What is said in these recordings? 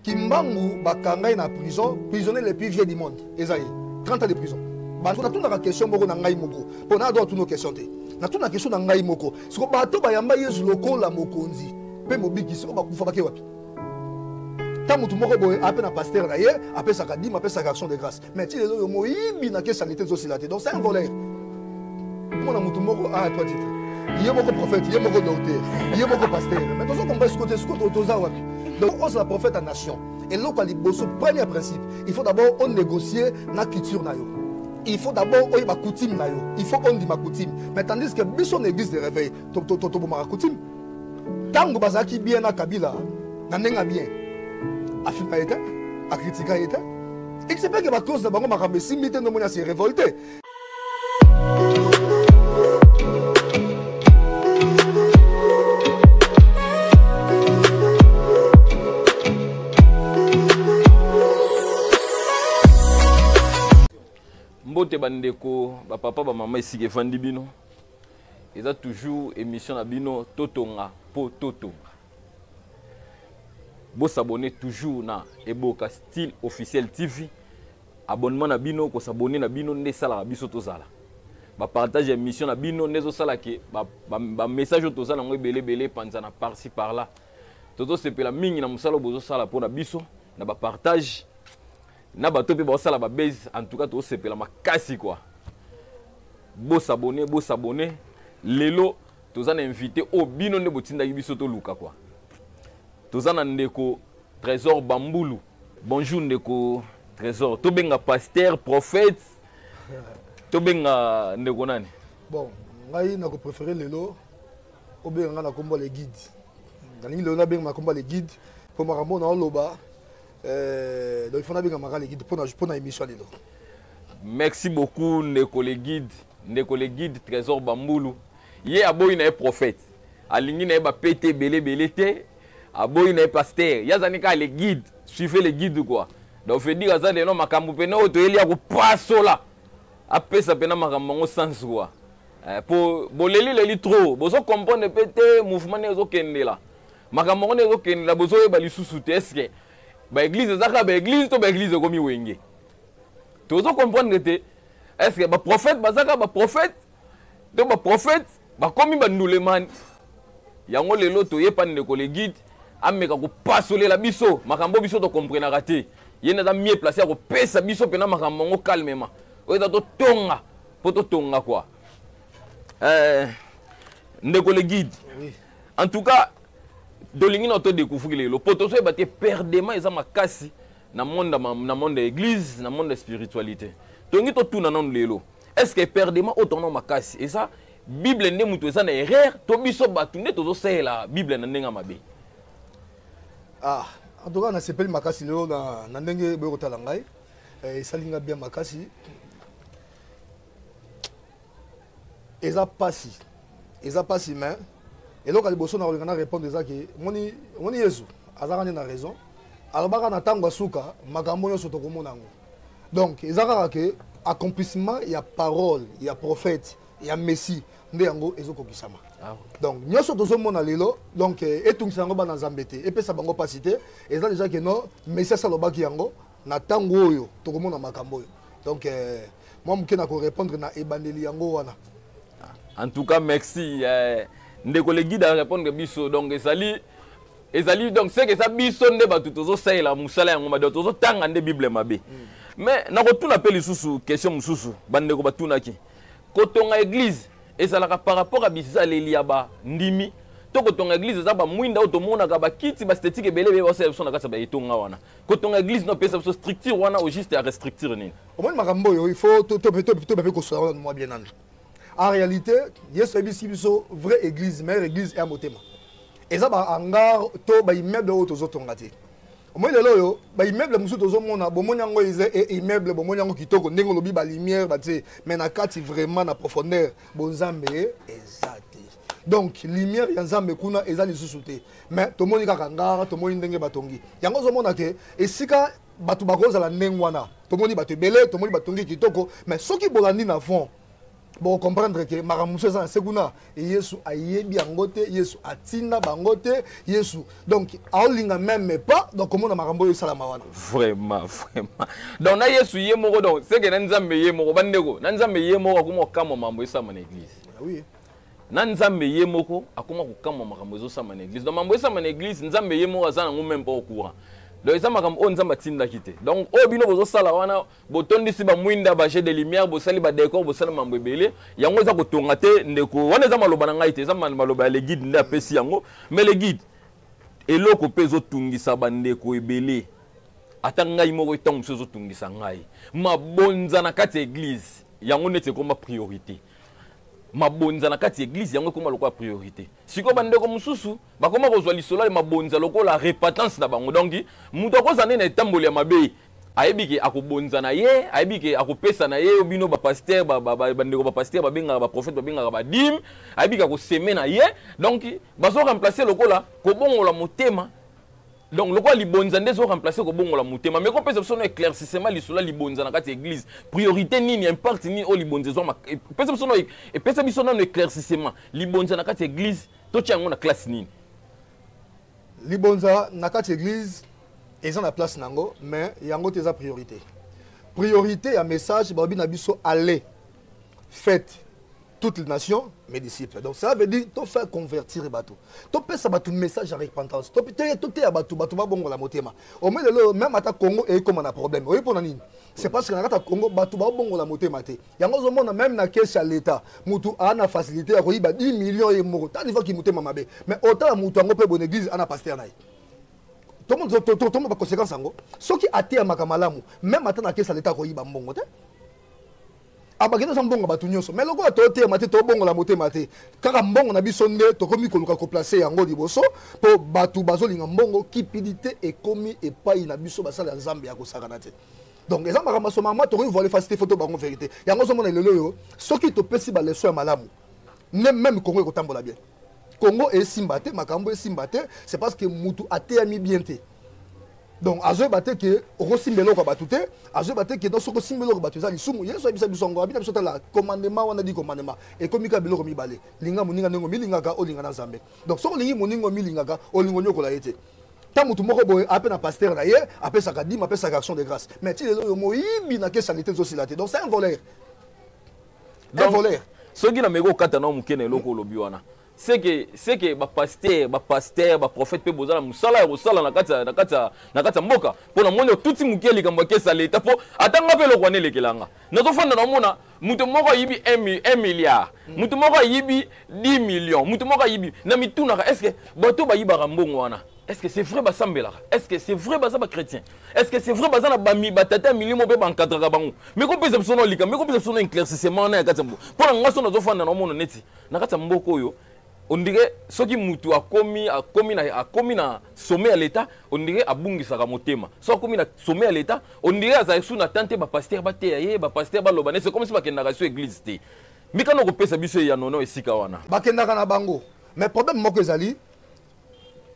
kimbangu bakanga ye na prison prisonnier le plus vieux du monde eza ye 30 ans de prison bato natunaka question moko na ngai moko mpo na adwa tuno question te natuna question na ngai moko siko bato bayamba yesu lokola mokonzi mpe mobiki siko bakufa bake wapi ta motu moko boye ape na pastere na ye apesaka dime apesaka action de grâce mais ti lelo yo moyibi na kesa lite ezosila te donc c'est un voleur mona motu moko a ah, toi titre ye moko prophète ye moko docteur ye moko pasteur mais tozo comprendre sikoyo te sikoyo toza wapi donc ozala prophète ya nation eloko ya liboso premier principe il faut d'abord onégocier na culture na yo il faut d'abord oyeba coutume na yo il faut ondima coutume mais tandis que biso na église de réveil tobomaka coutume ntango bazalaki bien na kabila na ndenge ya bien afinga ye te akritika ye te ekisepeke bacause na bango makambo esimbi te ndomoni asi revolte mbote bandeko bapapa bamama esika efandi bino eza toujours émission na bino totonga po totonga bosabone toujours na eboka style officiel tv abonnement na bino kosabone na bino nde esalaka biso tozala bapartage ya émission na bino nde ezosala ke bamessage oyo toza nango ebele ebele epanzana parci par là tozosepela mingi na mosala oyo bozosala mpo na biso na bapartage na bato mpe baosala babase en tout cas tosepela makasi kua bosabone bosabone lelo toza na invité oyo bino nde botindaki biso toluka kua toza na ndeko trésor bambulu bonjour ndeko trésor tobenga pasteur prophète tobenga ndeko nani bon ngai nakopréféré lelo obenga ngai na kombo le guide nalingi lelo nabenga na kombo le guide mpo makambo oyo naoloba Euh, donc il faut nabenga maka le guide mpo na, mpo na émission lelo merci beaucoup ndeko le guide ndeko le guide trésor bambulu ye aboyi na ye prophète alingi na ye bapete ebele ebele te aboyi na ye pasteur ye azali kaka le guide suivez le guide quoi donc veut dire aza lelo makambo mpena oyo toyeli ya kopasola apesa mpena makambo yango sans quoi eh, mpo bolelileli trop bozo comprendre mpe te mouvement nde ezokendela makambo yango nde ezokendela bozoyeba lisusu te eske baeglize eza kaka baeglize to baeglize ekomi wenge tozo comprendre te eske baprofete baza kaka baprofete to baprofete bakomi bandulemani yango lelo toyepa ndeko le guide ameka kopasolela biso makambo biso tokomprenaka te ye nde aza mie place ya kopesa biso mpena makambo yango calmement oyo eza totonga mpo totonga kua eh, ndeko le guide oui. en tout cas tolingi na to découvrir lelo po tozoyeba te perdement eza makasi na monde na monde ya église na monde ya spiritualité tolingi totuna nano lelo est ce que perdement oyo tongana makasi eza bible nde moto eza na erreur to biso bato nde tozosalela bible na ndenge ya mabe ah en tout cas nasepeli makasi lelo na, na ndenge boye kotala ngai eh, esali ngai bien makasi eza pasi eza pasi mais eloko ya liboso nakolinga na répondre eza ke omoni omoni yesu azalaka nde na raison alobaka na ntango ya suka makambo nyonso tokomona yango donc eza kaka ke accomplissement ya parole ya prophète ya messie nde yango ezokokisama ah donc nyonso tozomona lelo donc eh, etungisa yango bana nzambe te epesa bango mpasi te eza deja ke no messi asalobaki yango na ntango oyo tokomona makambo oyo donc euh, mwa moke na korépondre na ebandeli yango wana ah, en tout cas merci euh, ndeko le guide arépondre biso donc ezali ezali donc seke eza biso nde bato tozosalela mosala yango mabe tozotanga nde bible mabe mm. mais nakotuna mpe lisusu question mosusu bandeko batunaki kotonga église ezalaka par rapport ya bizaleli ya bandimi to kotonga église eza bamwinda oyo tomonaka bakiti bastetike ebele ebele basalela biso na kati ya baetonga wana kotonga église no pesa biso structure wana au juste ya restructure nini omoni makambo oyo il faut tobepe kosola wana mwa bien nanu en réalité yesu ayebisi biso vraie église meilleure église ya motema eza bahangar to baimmeuble oyo tozotonga te omoi lelo oyo baimmeuble mosusu tozomona bomoni yango eza e, immeuble bomoni yango kitoko ndenge olobi balumière batie mais na kati vraiment na profondeur bonzambe eza te donc lumière ya nzambe kuna eza lisusu te mais tomoni kaka ngara tomoni ndenge batongi yango ozomona ke esika bato bakozala ndenge wana tomoni bato ebele tomoni batongi kitoko mais soki bolandi na fond bokocomprendre ke makambo mosusu eza na se kuna yesu ayebi yango te yesu atinda bango te yesu donc aolinga meme pas donc komona makambo oyo esalama wana vraiment vraiment donc na yesu ye moko donc seke na nzambe ye moko bandeko na nzambe ye moko akoma okamwa mambo esalama na église ah oui. na nzambe ye moko akoma kokamwa makambo ezosama na église donc mambo esama na église nzambe ye moko aza nango meme pas au courant donc eza makambo oyo nzambe atindaki te donc oyo bino bozosala wana botondisi bamwinda bajet de lumière bosali badécor bosali mambo ebele yango eza kotonga te ndeko wana eza maloba na ngai te eza maloba ya leguide nde apesi yango mais leguide eloko mpe ezotungisa bandeko ebele ata ngai moko ntango mosusu ezotungisa ngai mabonza na kati ya eglize yango neti ekoma priorité mabonza na kati ya eglise yango ekoma lokola priorité sikoyo bandeko mosusu bakoma kozwa lisolo ya mabonza lokola repentance na bango donc moto akozala nde na etamboli ya mabe ayebi ke akobonza na ye ayebi ke akopesa na ye bino bapaster bandeko bapaster babengaka baprofete babengaka badime ayebi ke akoseme na ye donc bazo remplace lokola kobongola motema donc lokola libonza nde ezo remplacer kobongola motema mais kopesa biso no éclaircissement lisolo ya libonza na kati ya église priorité nini impact nini oyo libonza ezwama epesa biso no epesa biso nano éclaircissement libonza na kati ya église totya yango na classe nini libonza na kati ya église eza na place na yango mais yango te eza priorité priorité ya message balobi na biso aller fête toutes les nations mes disciples donc ça veut dire tofa convertir bato topesa bato message ya repentance toteya bato bato babongola motema ome lelo meme ata congo eyekoma na problème oyebi mpona nini c'est parce que na kati ya congo bato babongola motema te yango ozomona meme na kesi ya leta motu aa na facilité ya koyiba 10 million ye moko tanifaki motema mabe mais otala motu yango mpe bona église ana paster na ye tomona baconséquence yango soki ateyamaka malamu meme ata na kesi ya leta akoyiba mbongo te abaki toza mbongo ya bato nyonso mai lokola toteyama te tobongola motema te kaka mbongo na biso nde tokomi koluka koplace yango liboso mpo bato bazolinga mbongo kipidite ekomi epai na biso basala ya nzambe ya kosakana te donc eza makambo ya somama tokoki voile facilité foto bango verité yango ozomona lelo oyo soki topesi baleso ya malamu nde meme kongo ekotambola bien congo esimba te makambo esimba te c'est parce que mutu ateyami bien te donc azoyeba te ke okosimba eloko ya bato te azoyeba te ke donc soki osimba eloko bato eza lisumu yesu ayebisa biso yango abina biso tala commandement wana di commandement ekomi kaka biloko mibale linga moninga ndenge omilingaka olinga na nzambe donc soki olingi moninga omilingaka olinga onyokola ye te ta motu moko boye ape na pasteur na ye apesaka dime apesaka action de grâce mais ti lelo oyo moyibi na kesi ya lite ezosila te donc c'est un voleur un voleur soki na meko kata na muke na eloko olobi wana c'est que c'est que ba pasteur ba pasteur ba prophète pe bozala musala ya kosala na kati na kati na kati mboka pona moni otuti muke likambo ya kesa leta po atanga pe lokwa nelekelanga nazo fanda na mona mutu moko ayibi 1 milliard hmm. mutu moko ayibi 10 millions mutu moko ayibi na mitunaka est ce que bato bayibaka mbongo wana Est-ce que c'est vrai basambelaka Est-ce que c'est vrai baza bachrétien Est-ce que c'est vrai baza na bami batata ya milimo mpe bankadraka bango meko mpeza biso na olika meko mpeza biso na éclaircissement wana ya kati ya mbo mpo na ngai so nazofanda na omona neti na kati ya mboka oyo ondire soki mutu akomi akomi na akomi na sommet ya leta ondire abungisaka motema so akomi na sommet ya leta ondire azali su na temps te bapaster bateya ye bapaster baloba nese komisi bakendaka so eglise te mikano kopesa biso eyano na esika wana bakendaka na bango mais problème moko ezali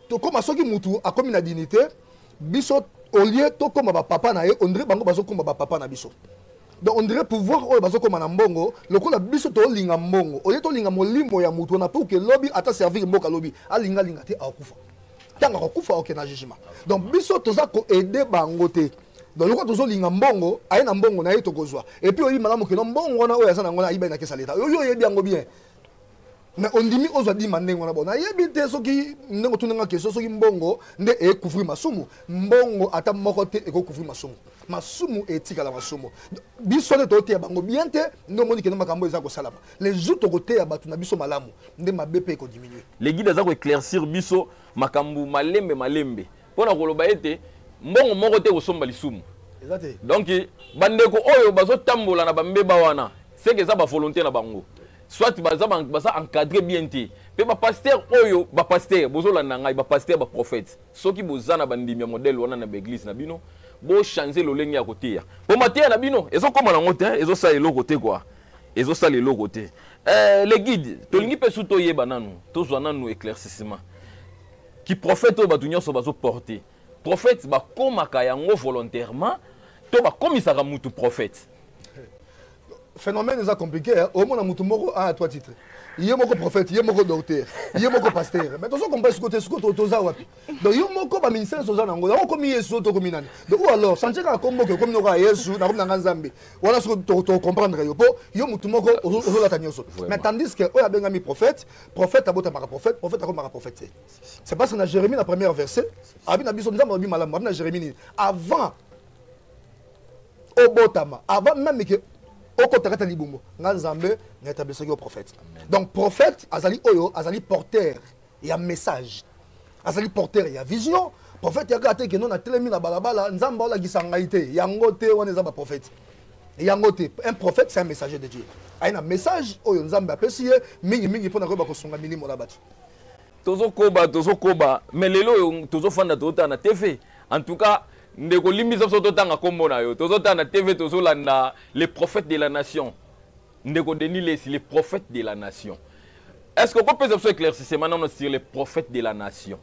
tokoma soki mutu akomi na dignité biso au lieu tokoma ba papa na ye on dirait bango bazokoma ba papa na biso donc on dirait pouvoir oyo bazokoma na mbongo lokola biso tolinga mbongo oye tolinga molimo ya moto wana mpo ke lobi ata servir mboka lobi alinga alinga te akokufa ntango akokufa oke na jugement donc biso toza koaide bango te donc lokola tozolinga mbongo aye na mbongo na ye tokozwa epuis oyebi malamu keno mbongo wana oyo aza na yango na ayibai na kesa leta oyo oyebi yango bien mais ondimi ozwa dima ndenge wana bon nayebi te soki ndenge otuni nga question soki mbongo nde ekouvrir masumu mbongo ata moko te ekocouvrir masumu masumu etikala masumu biso nde toteya bango bien te nde omoni kende makambo eza kosalama les jours tokoteya bato na biso malamu nde mabe mpe ekodiminue legide aza koeclaircir biso makambo malembe malembe mpo na koloba ete mbongo moko te ekosomba lisumu donc bandeko oyo bazotambola na bambeba wana seke eza bavolonté na bango soit baza baza encadré bien te mpe bapaster oyo bapaster bozolanda ngai bapaster baprophète soki boza na bandimi ya modèle wana na baeglise na bino bochange lolenge ya koteya mpo mateya na bino ezokóma nango te ezosala eloko te kua ezosala eloko te eh, le guide tolingi mpe su toyeba nanu tozwa nanu éclaircissement Ki prophète oyo bato nyonso bazo porter. Prophète bakomaka yango volontairement to bakomisaka mutu prophète. Phénomène eza compliqué, hein. omona mutu moko a ah, toi titre. ye moko prophète ye moko docteur ye moko pasteur mais tozo comprendre siko te siko toza wapi donc yo moko baministère nyonso oza na yango yango okomi yesu o tokomi nani donc ou alors chantier kaka kombo oke okomi noko ya yesu nakomi na nga nzambe wana siko tocomprendre yo mpo yo motu moko ozolata nyonso mais tandis que oyo abengami prophète prophète abotamaka prophète prophète akomaka prophète te c'est parce que na jérémie na première verset abi na biso nzambe alobi malamu abi na jérémie nini avant obotama avant meme ke okota kata libumu nga nzambe na etablisaki yo prophète donc prophète azali oyo azali porteur ya message azali porteur ya vision prophète yaka ate keno na telemi na balabala nzambe aolakisa ngai te yango te wana eza baprophète yango te un prophète c'est un messager de dieu aye na message oyo nzambe apesi ye mingimingi mpo na koyeba kosunga milimo na bato tozokoba tozokoba mais lelo oyo tozofanda tozotala na tv en tout cas ndeko limbisa biso totanga nkombo na yo tozotala na tv tozolanda le prophète de la nation Ndeko Denis Lessi, le prophète de la nation. Est-ce qu'on peut faire éclaircissement non, sur le prophète de la nation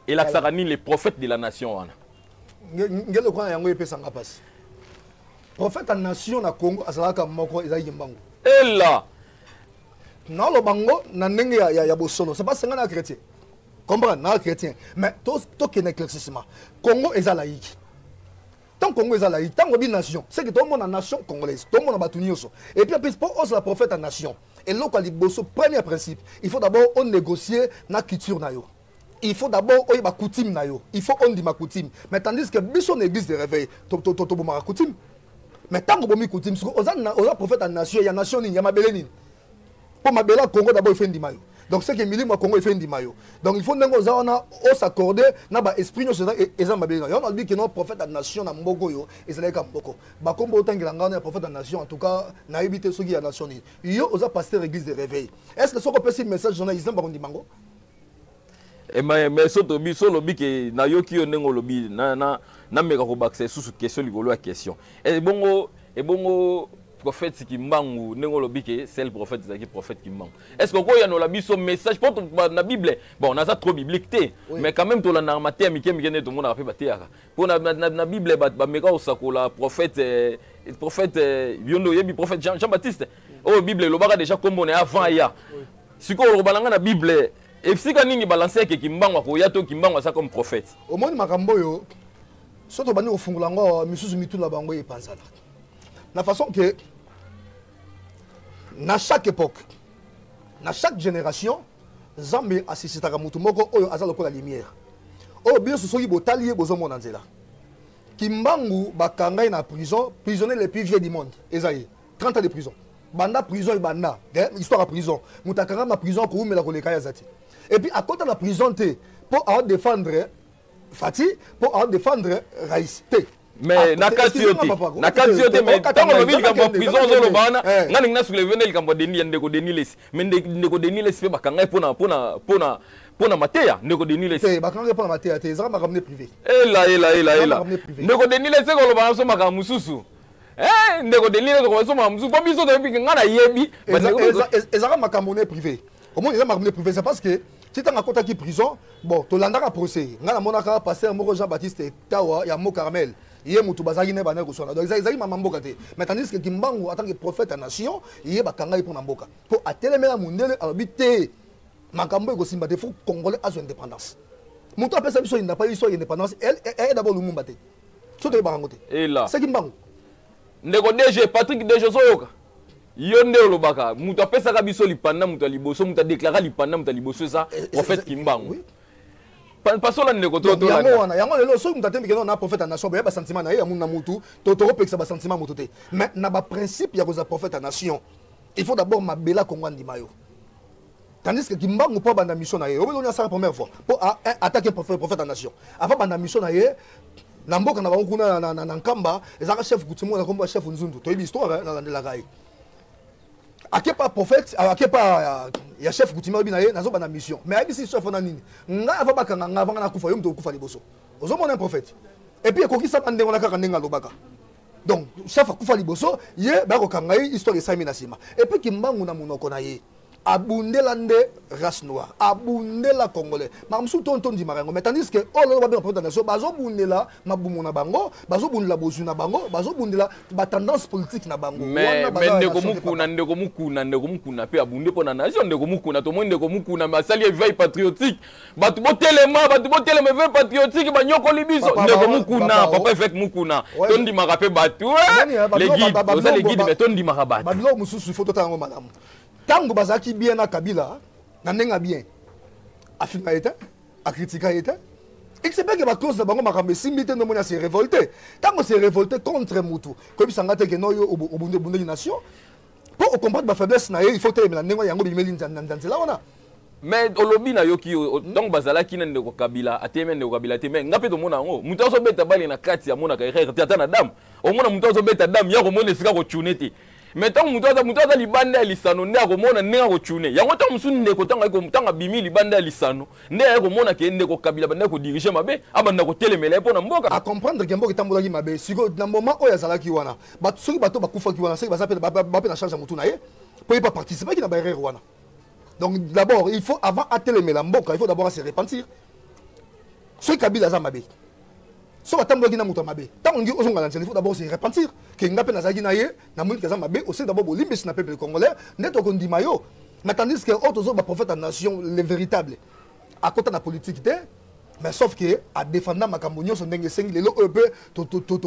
Et la Sarani, le prophète de la nation. Wana. Ngelo kwa yango epesanga pasi. Prophète ya nation na Congo azalaka moko ezalaki mbangu. Ella. Na lo bango na ndenge ya, ya, ya bosolo. C'est pas senga na chrétien. Comprendre na chrétien. Mais to to kena éclaircissement. Congo eza laïque. tant congo eza laïque ntango bi nation seke tomona nation congolaise tomona bato nyonso epuis apesi mpo ozala prophète ya nation eloko ya liboso premier principe il faut d'abord onégocie na culture na yo il faut d'abord oyeba coutume na yo il faut ondima coutume mais tandis que biso na église de réveil tobomaka coutume mais ntango obomi coutume siko oza prophète ya nation ya nation nini ya mabele nini mpo mabele ya congo dabord ife ndima yo donc seke milimo ya congo ife ndima yo donc il faut ndenge oza wana osaccorde na baesprit nyonso eza mabele na yo wana alobi keno prophète ya nation na mboko oyo ezalaki ka mboko bakombo otangela ngai wana ya prophète ya nation en tout cas nayebi te soki ya nation nini yo oza pasteur église de réveil est ce que soki opesi message journaliste bakondima yango Eh, mais, mais soto biso olobi ke nayoki yo ndenge olobi nameka na, na, na kobakisa lisusu question likolo ya question eh, ebongo ebongo prophète kimbangu ndenge olobi ke sel prophète ezalaki prophète kimbangu est ce que okoyanola biso message mpo na bible bon naza trop biblique te oui. mais quand même tolandaka mateya mike mike nde tomonaka mpe bateyaka mpo na, na, na, na bible bameka kosakola prophète eh, prophète eh, yo nde oyebi prophète jean, jean baptiste oyo bible elobaka deja nkombo na ye avant aya sikoyo olokoba na ngai na bible esika nini balanse yake kimbangu akoya to kimbangu aza comme prophète omoni makambo oyo so tobandi kofungola yango awa misusu mitu na bango epanzana na façon ke na chaque époque na chaque génération nzambe asisitaka motu moko oyo aza lokola lumière oyo bino soki botali ye bozomona nzela kimbangu bakanga ye na prison prisonnier le plus vieux du monde eza ye 30 ans de prison banda prison ebanda eh, histoire ya prison moto akanga ma prison akoumela koleka ye aza te epuis akota na prison te mpo aodefendre fati mpo aodefendre rais te mais na kati yo te na kati yo te mais ntango olobi likambo ya prison ozoloba wana eh. ngai ndenge nasouleve nde likambo ya deni ya ndeko deni lesi mais ndeko deni lesi mpe bakanga ye mpona mpona mpona mpona mateya ndeko deni lesi eh, bakanga ye mpona mateya te ezalaka makambo nde privé ela ela ela ela ndeko deni lesi ekoloba na biso makambo mosusu Eh, ndeko delire tokoba so makambo mosusu mpo biso toyebi ngai nayebi ezalaka makambo ne privé omoni eza makambo ne privé c'est parce que ti ntango akotaki prison bon tolandaka procès ngai namonaka paster moko jean baptiste tawa ya mo carmel ye motu bazalaki naye bandaki koswana donc ezalaki mama mboka te mais tandis que kimbangu atanke prophète ya nation ye bakangaki mpo na mboka mpo atelemela mondele alobi te makambo ekosimba te fo congolais azwa indépendance moto apesa biso indapa biso indépendance aye d'abord lumumba te so toyebaka yango te ela seki mbangu ndeko dg patrick dg ozoyoka yo nde olobaka moto apesaka biso lipanda moto ya liboso moto adeklara lipanda moto ya liboso eza eh, eh, prophète eh, kimbangu pasola ndeko toyango wana yango lelo soki moto atembikeno na prophète ya nation boya basentiment na ye ya munu na motu to tokopekisa basentiment moto te mais na baprincipe ya kozala prophète ya nation il faut d'abord mabela kongo andima yo tandis que kimbangu mpo abanda mission na ye oyo eloni asala première fois mpo attaque prophète ya nation avant abanda mission na ye na mboka na bango kuna na nkamba ezalaka chef kutimoko na kombo ya chef nzundu toyebi histoire eh, nalandelaka ye akepa prophète euh, akepa euh, ya chef kutima oyebi na ye nazobanda mission mais ayebisi chef wana nini ngai ava bakanga ngai avanga nakufa yo moto okufa liboso ozomona prophète epuis ekokisama ndenge wana kaka ndenge alobaka donc chef akufa liboso ye bakokanga ye histoire esalemi na nsima epuis kimbangu na monoko na ye abundela nde race noire abundela congolais makambo mosusu to tondimaka yango mais tandis que oyo lolo babenga poto nation bazobundela mabumu na bango bazobundela bozwi na bango bazobundela batendance politique na bango ndeko mokuna ndeko mokuna ndeko mokuna mpe abunde mpo na nation ndeko mokuna tomoni ndeko mokuna me asali eveil patriotique bato botelema bato botelema eveil patriotique banyokoli biso ndeko mokuna papa eveke mokuna tondimaka mpe bato eh, legide oza legide me tondimaka bato babiloko mosusu ifo totala yango malamu ntango bazalaki bien na kabila na ndenge ya bien afinga ye te akritika ye te excepeke baclose na bango makambo esimbi te ndomoni ase révolte ntango se révolte contre motu koyebisa nga te ke noyo obunde ebundeli nation mpo ocomprendre bafaiblesse na ye il faut telemela ndenge yango bimeli nzela wana mais olobi nayoki yo ntango bazalaki na ndeko kabila ateyemi ndeko kabila te mais nga mpe tomona yango moto azobeta bale na kati amonaka erreur te ata na dame omona moto azobeta dame ya komona esika kotune te mais ntango moto aza moto aza libanda ya lisano nde akomona ndenge akotune yango ntango mosusu ndeko ntango ntango abimi libanda ya lisano nde aye komona ke ndeko kabila bandaki kodirige mabe abanda kotelemela ye mpo na mboka acomprendre ke mboka etambolaki mabe sikoyo na moment oyo azalaki wana bato soki bato bakufaki wana soki baza mpe na charge ya motu na ye mpo ye baparticipaki na baerreur wana donc d'abord il faut avant atelemela mboka il faut d'abord ase repentir soki kabila aza mabe soki atambwaki na moto ya mabe ntango olingi ozongala nzela ifo dabord se repentir ke nga mpe nazalaki na ye namoni ke aza mabe osili dabord bolimbisi na peuple congolais nde tokondima yo mais tandis ke oyo oh, tozoba prophète ya nation le véritable akota na politique te mais sauf ke adefanda makambo nyonso ndenge esengi lelo oyo mpe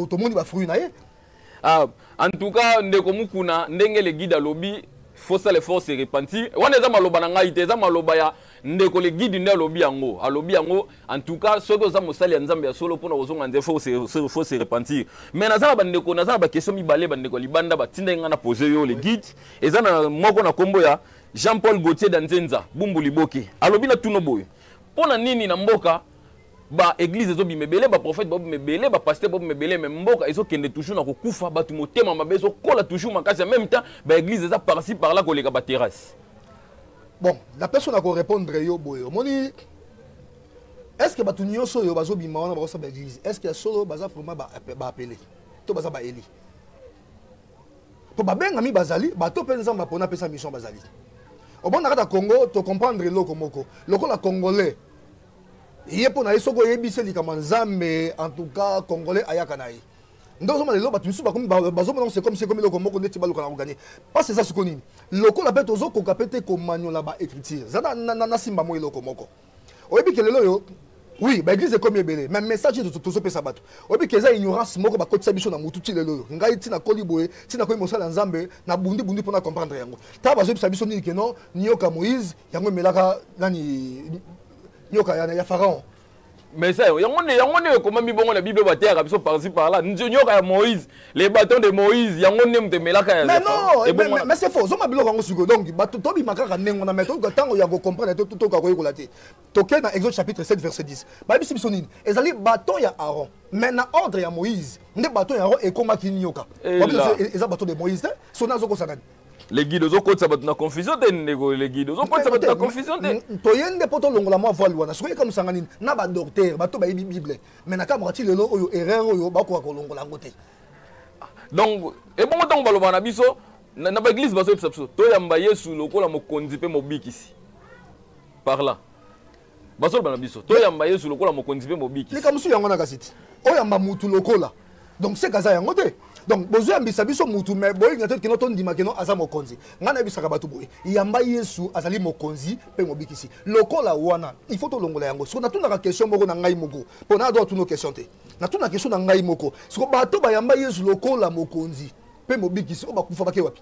tomoni bafruit na ye Ah, en tout cas ndeko mukuna ndenge le guide alobi faut ça le force se repentir wana eza maloba na ngai te eza maloba ya ndeko le guide nde alobi yango alobi yango en tout cas soki oza mosali ya nzambe ya solo mpona kozonga nze faut se repentir mais naza na bandeko naza na bakestion mibale bandeko ya libanda batindaki ngai na pose yo le guide eza na moko na nkombo ya jean paul gautier danzenza bumbu liboke alobi na tuno boye mpo na nini na mboka ba église ezobima ebele ba prophète babima ebele ba pasteur babima ebele mais mboka ezokende toujours na kokufa bato motema mabe ezokola toujours makasi en même temps ba église eza parci par là koleka ba terrasse bon na personne akorépondre yo boye omoni est ce que bato nyonso oyo bazobima wana bakosala ba église est ce que ya solo baza vraiment baapele to baza baeli mpo babengami bazali bato mpe nzambe apona apesa mission bazali obonakata congo tocomprendre eloko moko lokola congolais ye mpo na ye soki oyebisi ye likambo ya nzambe en tout cas congolais ayaka na ye nde ozomona lelo bato misusu bakomi bazomona yango sekomi sekomi eloko moko ndeti baluka na koganye mpasi eza siko nini lokola mpe tozokoka mpe te komanyola baécriture eza nasimba mo eloko moko oyebi ke lelo oyo oui baeglise ekomi ebele mais message tozopesa bato oyebi ke eza ignorance moko bakotisa biso na motu ti lelo oyo ngai ntina koli boye ntina koyi mosala ya nzambe na bundi bundi mpona comprendre yango ntango bazoyebisa biso nini keno niyoka moïse yango emelaka nani nyoka ya, ya pharaon mais ça yango nde yango nde ekomami bongo na bible bateyaka biso parci par là nyoka ya moïse les bâtons de moïse yango nde moto emelaka ya mais non mais c'est faux zomba biloko yango sikoyo donc bato tobima kaka ndenge wana mais toyoka ntango ya kocomprendre te totoka koyekola te tokei na exode chapitre 7 verset 10 bayebisi biso nini ezali bâton ya aaron mais na ordre ya moïse nde bâton ya aaron ekomaki nyoka eza bâton de moïse te soni azokosana le guide ozokotisa bato na confusion te ndeko le guide ozokotisa bato na confusion te toye nde mpo tolongola mwa voile wana soki yeka mosanga nini na badoktere bato bayebi bible mai na kamaka ti lelo oyo erreur oyo bakoka kolongola yango te ah, donc ebongo ntango balobaka na biso na baeglise bazoyebisa biso toyamba yesu lokola mokonzi mpe mobikisi par là bazoloba na biso toyamba yesu lokola mokonzi mpe mobikisi likambo mosusu yango na kasi ti oyamba mutu lokola donc seka aza yango te donc bozoyambisa biso mutu me boyinga te kino tondima kino aza mokonzi ngai nayebisaka bato boye yamba yesu azali mokonzi mpe mobikisi lokola wana il faut tolongola yango siko natunaka question moko na ngai moko mpo na adwa tuno question te natuna question na ngai moko siko bato bayamba yesu lokola mokonzi mpe mobikisi oyo bakufa bake wapi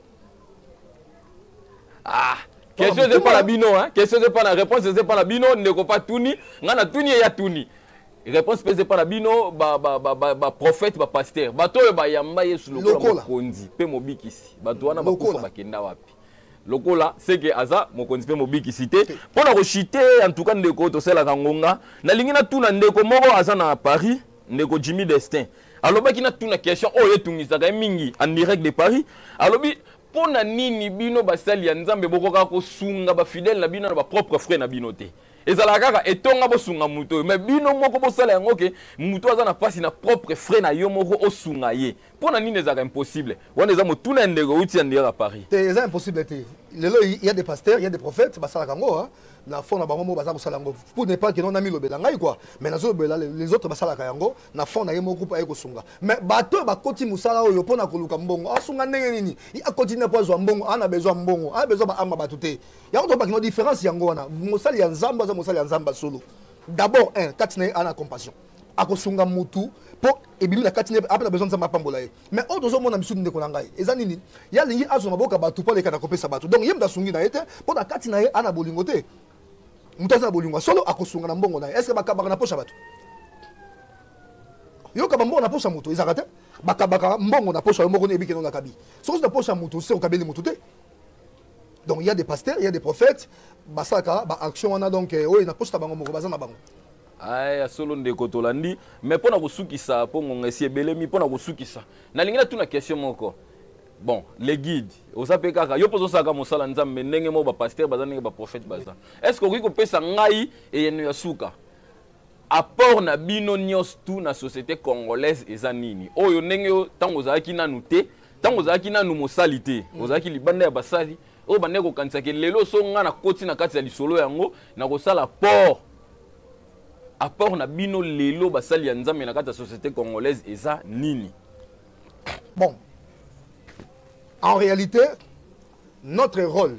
ah question eza epa na bino question eza epa na réponse eza epa na bino ndeko pa tuni ngai na tuni eya tuni réponse mpe eza epa na bino baprofete bapaster bato oyo bayamba yesu lokola mokonzi mpe mobikisi bato wana bakufa bakenda wapi lokola seke aza mokonzi mpe mobikisi te mpo na koshite en tout cas ndeko tosalelaka ngonga nalingi natuna ndeko moko aza na paris ndeko jimmy destin alobaki natuna question oyo etungisaka ye mingi en direct de paris alobi mpo na nini bino basali ya nzambe bokokaka kosunga bafidele na bino na bapropre frais na bino te ezalaka kaka etonga bosunga moto oyo me bino moko bosala yango ke moto aza na mpasi na propre frais na yo moko osunga ye mpo na nini ezalaka impossible wana eza motuna ya ndeko euti ya ndeyaka paris te eza impossible te lelo ya des pasteurs ya des prophètes basalaka yango na fond na bango moko baza kosala yango pour ne pas que non namilobela ngai quoi mais nazolobela les autres basalaka yango na fond na ye moko mpo aye kosunga mais bato oyo bakoti mosala oyo mpo na koluka mbongo asunga ndenge nini ye akoti nde mpo azwa mbongo ana bezwa mbongo ana bezwa baamba bato te yango tobakino différence yango wana mosali ya nzambe aza mosali ya nzambe ya solo d'abord un kati na ye ana compassion akosunga motu mpo ebimi na kati ape na besoin nzambe apambola ye mais oyo tozomona misusu ndeko na ngai eza nini ye alingi azwa maboko ya bato mpo aleka na kopesa bato donc ye moto asungi na ye te mpo na kati na ye ana bolingo te moto aza na bolingo ya solo akosunga na mbongo na ye estce bakabaka na posa bato yoka bambongo na posa moto ezaka te bakabaka mbongo na posa yo moko neyebi keno nakabi soki ozi na posa moto se okabeli moto te donc il y a des pasteurs il y a des prophètes basalaka ba action wana donc euh, oyo na posa na bango moko baza na bango Aye, ya solo ndeko tolandi me mpo na kosukisa mpo ngonga esi ebelemi mpo na kosukisa nalingi natuna question moko bon le guide oza mpe kaka yo mpe ozosalaka mosala nzambe ndenge moko bapaster baza ndenge baprofete baza est ce que okoki kopesa ngai eyano ya suka apport na bino nyonso tu na société congolaise eza nini oyo ndenge yo ntango ozalaki nanu te ntango ozalaki nanu mosali te mm. ozalaki libanda ya basali oyo bandeki kokanisaka lelo so ngai nakoti na kati ya lisolo yango nakosala port apport na bino lelo basali ya nzambe na kati ya société congolaise eza nini bon en réalité notre rôle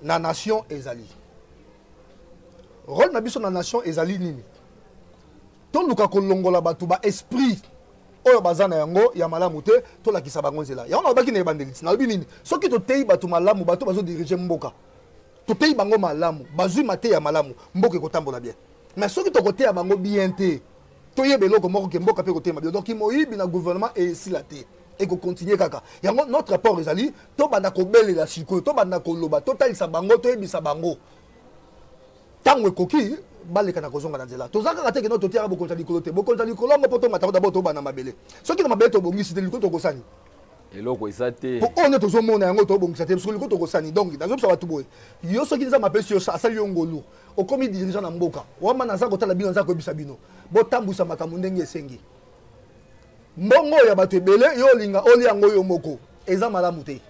na nation ezali rôle na biso na nation ezali nini toluka kolongola bato ba esprit oyo baza na yango ya malamu te tolakisa bango nzela yango nalobaki na ebandeli nalobi nini soki toteyi bato malamu bato bazodirige mboka toteyi bango malamu bazwi mateya malamu mboka ekotambola bien mais soki tokoteya bango bien te toyeba eloko moko ke mboka mpe ekotema bien donc moyibi na gouvernement esila te ekokontinue kaka yango notre apport ezali tobanda kobelela sikoyo tobanda koloba totalisa bango toyebisa bango ntango ekoki baleka na kozonga na nzela toza kaka te keno totiaka bokonzi ya likolo te bokonzi ya likolo yango mpo tongatako dabord tobanda mabele soki na mabele tobongisi te likolo tokosani eloko eza te mpo oyo nde tozomona yango tobongisa te soki likoto kosani donc nazobisa bato boye yo soki nzambe apesi yo asali yo ngolu okomi dirigeant na mboka wama naza kotala bino naza koyebisa bino botambwisa makambo ndenge esengi mbongo ya bato ebele yo olinga olia yango yo moko eza malamu te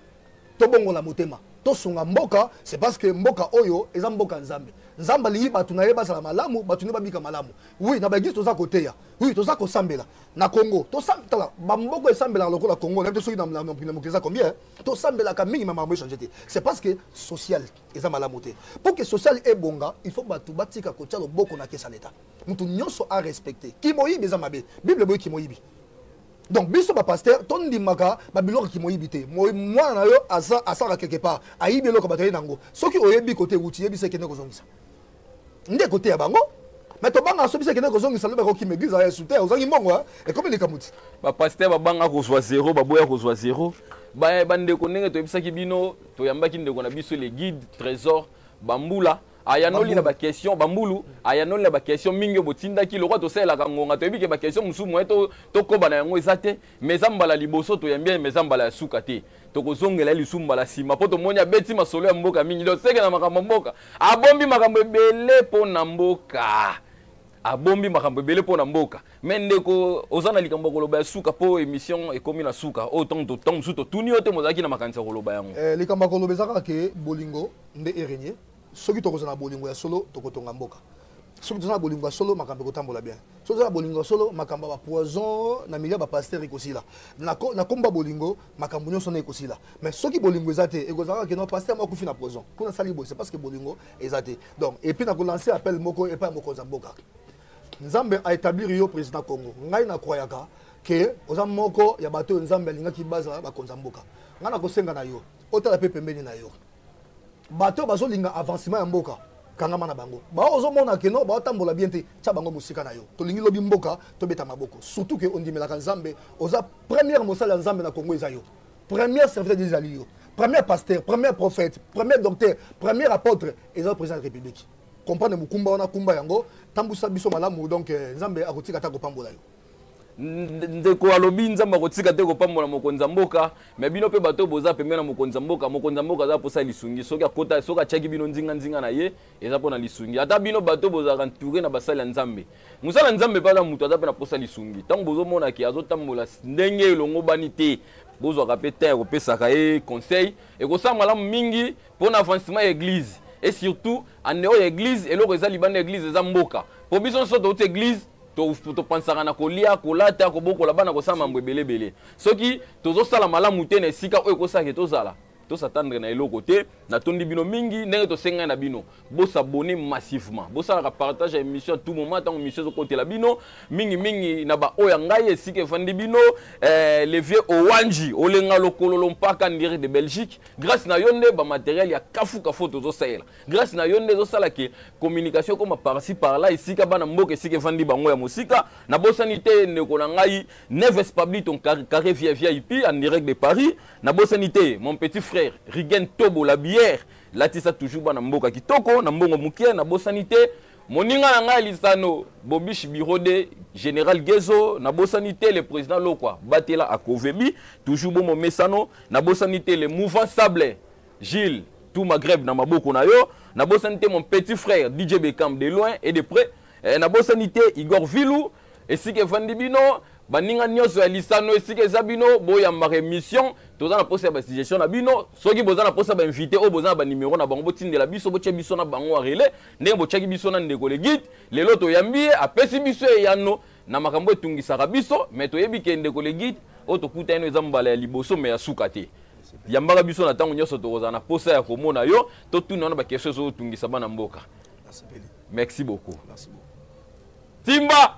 tobongola motema tosunga mboka c'est parce que mboka oyo eza mboka nzambe nzambe alingi bato na ye bazala malamu bato nde babika malamu wi na baeglise toza koteya wi toza kosambela na congo tosambela bamboko esambelaka lokola congo nayebi te soki na mokili eza combien tosambelaka mingi ma makambo echange te c'est parce que social eza malamu te mpo ke social ebonga il faut bato batika kotya loboko na kesa leta moto nyonso arespecte kimoyibi eza mabe bible eboyi kimoyibi donc biso bapaster tondimaka babiloko kimoyibi te mwana na yo asaka quelque part ayibi eloko bato aye na yango soki oyebi kote ewuti yebisa ekende kozongisa nde koteya bango mais tobanga so biso ekende kozongisa lobi akokima eglise ya sute ozangi mbongo eh? ekomi likambo ti bapaster babanga kozwa zero baboya kozwa zero bandeko ndenge toyebisaki bino toyambaki ndeko na biso le guide trésor bambula ayanoli na baquestion bambulu ayanoli na baquestion mingi oyo botindaki lokola tosalelaka ngonga toyebi ke baquestion mosusu moye tokoba na yango eza te mais eza mbala liboso toyambi ye mais eza mbala ya suka te tokozongela ye lisu mbala nsima mpo tomoni abeti masolo ya mboka mingi donc seke na makambo ya mboka abombi makambo ebele mpo na mboka abombi makambo ebele mpo na mboka me ndeko oza na likambo ya koloba ya suka mpo émission ekomi na suka oyo ntango ntango mosusu totuni yo te mozalaki na makanisi ya koloba yango eh, likambo ya koloba eza kaka ke bolingo nde erenye soki tokozala na bolingo ya solo tokotonga mboka soki toza na bolingo ya solo makambo ekotambola bien soki toza na bolingo ya solo makambo ya bapoison na milieu ya bapastere ekosila na nkombo ya bolingo makambo nyonso na ekosila mais soki bolingo eza te ekozalaka keno pastere moko akufi na poison mpo nasali boye se parce que bolingo eza te donc epuis nakolanse appel moko epai ya mokonzi ya mboka nzambe aétablir yo président congo ngai nakwayaka ke oza moko ya bato oyo nzambe alingaki bazala bakonzi ya mboka ngai nakosenga na yo otala mpe pembeni na yo bato bazolinga avancement ya mboka kangama na bango bao ozomona keno baotambola bien te tya bango mosika na yo tolingi lobi mboka tobeta maboko surtout ke ondimelaka nzambe oza première mosali ya nzambe na kongo eza yo première serviteur ezali yo première pasteur première prophète première docteur première apôtre eza président ya république comprendre mokumba wana kumba yango tambusa biso malamu donc eh, nzambe akotika ata kopambola yo ndeko alobi nzambe akotika te kopambola mokonzi ya mboka me bino mpe bato boza pembeni na mokonzi ya mboka mokonzi ya mboka aza mposa ya lisungi soki akota soki atiaki bino nzinganzinga na ye eza mpo na lisungi ata bino bato bozalaka ntoure na basali ya nzambe mosala ya nzambe mpe aza moto aza mpe na mposa ya lisungi ntango bozomona ke azotambola ndenge elongobani te bozwaka mpe te kopesaka ye conseil ekosala malamu mingi mpo na avancement ya eglize et surtout en dehors ya eglize eloko eza libanda ya eglize eza mboka mpo biso nyonso touti eglize topansaka na kolia kolata kobokola bana kosala mambo ebele ebele soki tozosala malamu te na esika oyo ekosake tozala tosatandre na eloko te natondi bino mingi ndenge tosengai na bino bosabone massivement bosalaka partage ya émission tout moment ntango émission ezokotela bino mingimingi na baoyo ya ngai esika efandi bino eh, le vieux owanji olenga lokololo mpaka ndire de belgique grâce na yo nde bamateriel ya kafukafu tozosalela grâce na yo nde ezosala ke communication ekoma parci par là esika bana mboka esika efandi bango ya mosika nabosani te ndeko na ngai neves pabliton carré via via ipi en direct de paris nabosani te mon petit frère rigen tobo la bière latisa toujours bana mboka kitoko na mbongo mokie nabosani te moninga na ngai lisano bobish biro de général gezo nabosani te le président lokwa batela akovebi toujours bomomesano nabosani te le mouvant sable Gilles, tout Maghreb na maboko na yo. Na bosani te mon petit frère DJ Beckham de loin et de près. Eh, na bosani te Igor Vilou, esika evandi bino, baninga nyonso ya lisano esika eza bino, boyambaka émission, toza na posa ya ba suggestion na bino. Soki boza na posa ba invité oyo boza na ba numéro na bango botindela biso, botia biso na bango en relais, ndenge botiaki biso na ndeko le guide, lelo toyambi ye, apesi biso eyano na makambo etungisaka biso, mais toyebi ke ndeko le guide oyo tokuta ino eza mbala ya liboso mais ya suka te. yambaka biso na ntango nyonso tokozala na mposa ya komona yo totuna wana bakestion ezotungisa bana mboka merci beaucoup timba